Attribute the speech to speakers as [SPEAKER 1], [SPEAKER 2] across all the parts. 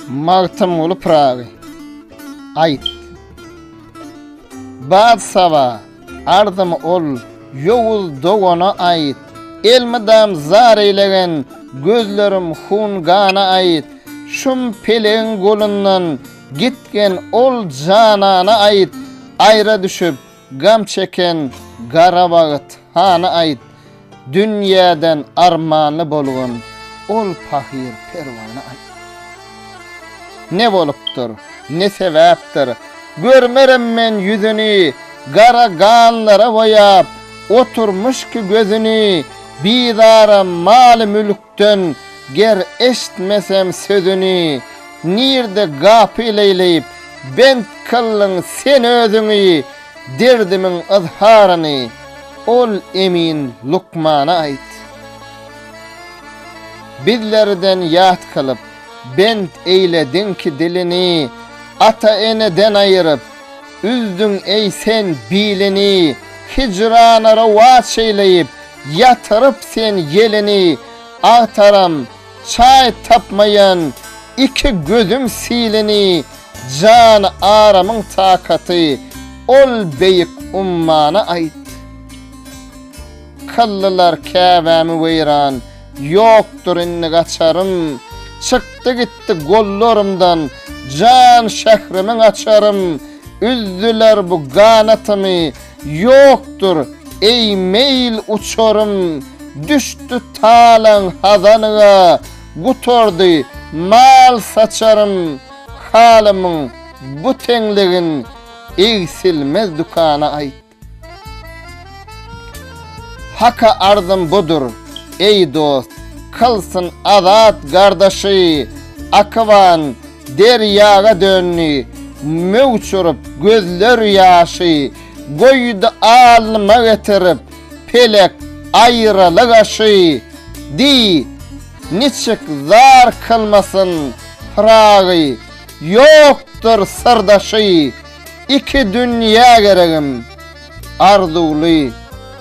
[SPEAKER 1] Magtymguly Pyragy Aýt Bad saba ardym ol ýowuz dogana aýt Elmydam zar eýlegen gözlerim hun-gana aýt Şum pelegiň golundan gitgen ol janana aýt Aýra düşüp Gam çeken gara wagt hany aýt, Dünýäden armanly bolgun ol pahyr perwana aýt. Ne bolupdyr, ne sebäpdir, görmerem men ýüzüni, Gara ganlara boýap, oturmyş ki gözüni, Bizaram maly-mülk Süýtden ger eşitmesem sözüni, Nirde gapyl eýleýip, bent kyldyň sen özüňi, Derdimiň yzharyny, ol emin lukmana aýt. Bizlerden ýat kylyp, bent eýlediňki dilini, Ata-eneden aýyryp, üzdüň eý sen bilini, Hijrana rowaç eýleýip, Ýatyryp sen ýelini agtaram Çaý tapmaýan iki gözüm silini Jan aramyň takaty ol beýik ummana aýt Kyldylar Käbämi weýran ýokdur indi gaçarym Çykdy gitdi gollarymdan jan şährimiň açarym Üzdüler bu ganatymy Ýokdur, eý, meýil uçarym, Düşdi talaň hazanyňa, Gutardy mal saçarym, Halymyň bu teňligin Egsilmez dükana aýt. Haka arzym budur, eý, dost, Kylsyn azat gardaşy, Akywan Derýaga döndi, möwç urup, gözler ýaşy, Goýdy alnyma getirip, pelek aýraly gaşy. Diý, niçik zar kylmasyn Pyragy, ýokdur syrdaşy, Iki dünýä geregim, arzuwly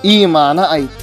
[SPEAKER 1] imana aýt.